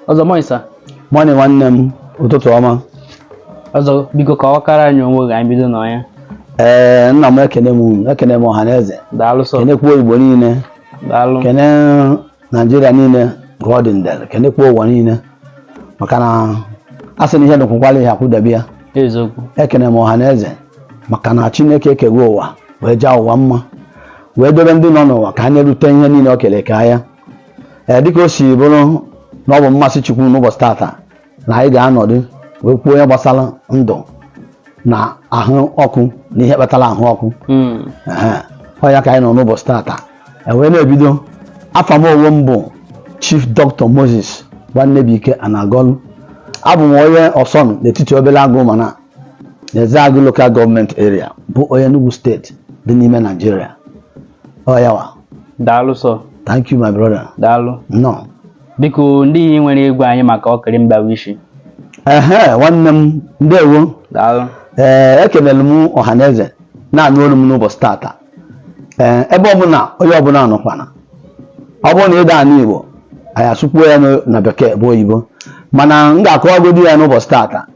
ọzọ morning sir morning nwanne m ụtụtụ ọma ọzọ biko kọwakwara anyị onwe gị anyị bido na ya ee nna m ekene m unu ekene m ọha na eze daalụ sọ kenekwuo igbo niile daalụ kene naijiria niile ka ọ dị ndere kenekwuo ụwa niile maka na a sị na ihe dụkwụkwala ihe akwụdebe ya eziokwu ekene m ọha na eze maka na chineke ekego ụwa wee jaa ụwa mma wee dobe ndị nọ n'ụwa ka ha na-erute ihe niile o kere ka ya ee dịka o si bụrụ na ọ bụ mmasị Chukwu n'ụbọchị tata na anyị ga-anọdụ wee kwuo ihe gbasara ndụ na ahụ ọkụ na ihe kpatara ahụ ọkụ hmm. ọ ya ka anyị nọ n'ụbọchị tata ewee na-ebido afa m onwe m bụ Chief Dr. Moses Nwannebuike Anagolu abụ m onye Ọsọnụ n'etiti Obeleagu Umana Ezeagu Local Government Area bụ onye Enugu steeti dị n'ime Naijiria ọ ya wa daalụ sọ thank you my brother daalụ now biko ndị ihe i nwere ịgwa anyị maka ọkịrị mgbawa ishi ehe nwanne m ndewo daalụ ee ekelere m ọhaneze na-anụ olu m n'ụbọchị tata ee ebe ọbụla onye ọbụla nọkwana ọ bụrụ na ị da-anụ Igbo anyị asụkwuo ya n'o- na bekee bụ oyibo mana m ga-akọwagodi ya n'ụbọchị tata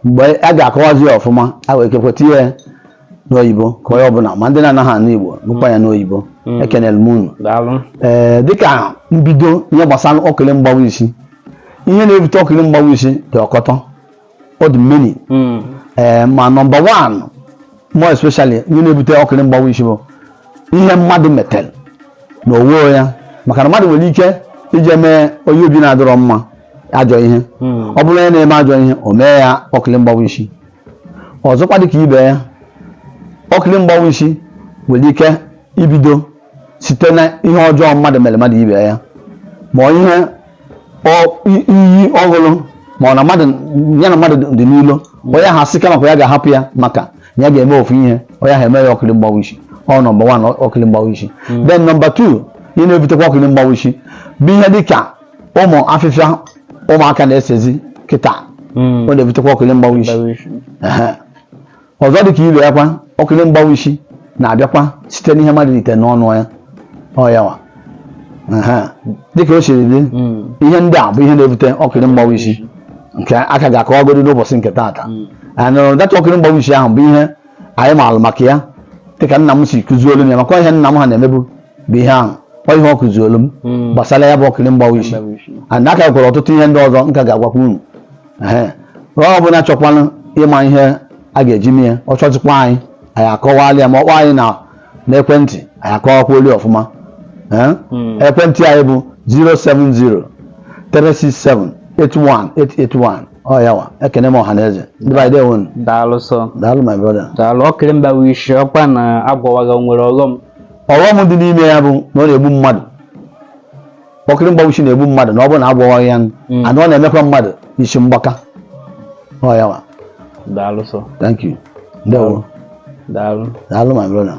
mgbe a ga-akọwazi ya ọfụma a wee kekwe tinye ya n'oyibo ka onye ọbụla ma ndị na-anaghị anụ Igbo nụkwa ya n'oyibo Mm. ekenere m unu daalụ ee dịka mbido ihe gbasara ọkịrị mgbawa isi ihe na-ebute ọkịrị mgbawa isi dị ọkọtọ ọ dị many hmm. ee eh, ma nọmba wan more especially ihe na-ebute ọkịrị mgbawa isi bụ ihe mmadụ metel na onwe ya maka na mmadụ nwere ike ije mee onye obi na-adịrọ mma ajọ ihe hmm. ọ bụrụ onye na-eme ajọ ihe o mee ya ọkịrị mgbawa isi ọzọkwa dịka ibe ya ọkịrị mgbawa isi nwere ike ibido site na ihe ọjọọ mmadụ mere mmadụ ibe ya ma ihe iyi ọ ṅụrụ ma ọ na mmadụ ya na mmadụ dị n'ilo onye ahụ asị kama ka ya ga-ahapụ ya maka ya ga-eme ofu ihe onye ahụ eme ya ọkịrị mgbawa isi ọ nọmba wan ọkịrị mgbawa isi hmm. then nọmba tu ihe na-ebutekwa ọkịrị mgbawa isi bụ ihe dịka ụmụ afịfịa ụmụaka na-esezi kịta hmm. ọ na-ebutekwa ọkịrị mgbawa isi ọzọ dị ka ibe ya kwa ọkịrị mgbawa isi na-abịakwa site n'ihe mmadụ rite n'ọnụ ya ọ ya wa dịka o siri dị ihe ndị a bụ ihe na-ebute ọkịrị mgbawa isi nke a ka a ga-akọwagodi n'ụbọchị nke taata and uh, that ọkịrị mgbawa isi ahụ bụ ihe anyị maalụ maka ya dịka nna m si kụziolu m ya maka ihe nna m ha na-emebu bụ ihe ahụ ọ ihe ọ kụziolu m hmm. gbasara ya bụ ọkịrị mgbawa isi and a ka nwere ọtụtụ ihe ndị ọzọ m ka ga-agwakwa unu ee ọ bụla chọkwanụ ịma ihe a ga-eji mee ya ọ chọtakwa anyị anyị akọwala ya ma ọ kpọọ anyị na ekwentị anyị akọwakwalụ ya ọfụma ee Mm. ekwentị anyị bụ 070 367 81881 ọ yawa ekene m ọha na eze ndị be anyị dewo nụ. daalụ sọ daalụ my brother daalụ ọkịrị mgbawa isi ọkwa na agwọwaghị ya o nwere ọghọm ọghọm dị n'ime ya bụ na ọ na-egbu mmadụ ọkịrị mgbawa isi na-egbu mmadụ na ọ bụrụ na agwọghị ya hmm. and ọ na-emekwa mmadụ isi mgbaka ọ yawa daalụ sọ thank you ndewo daalụ daalụ my brother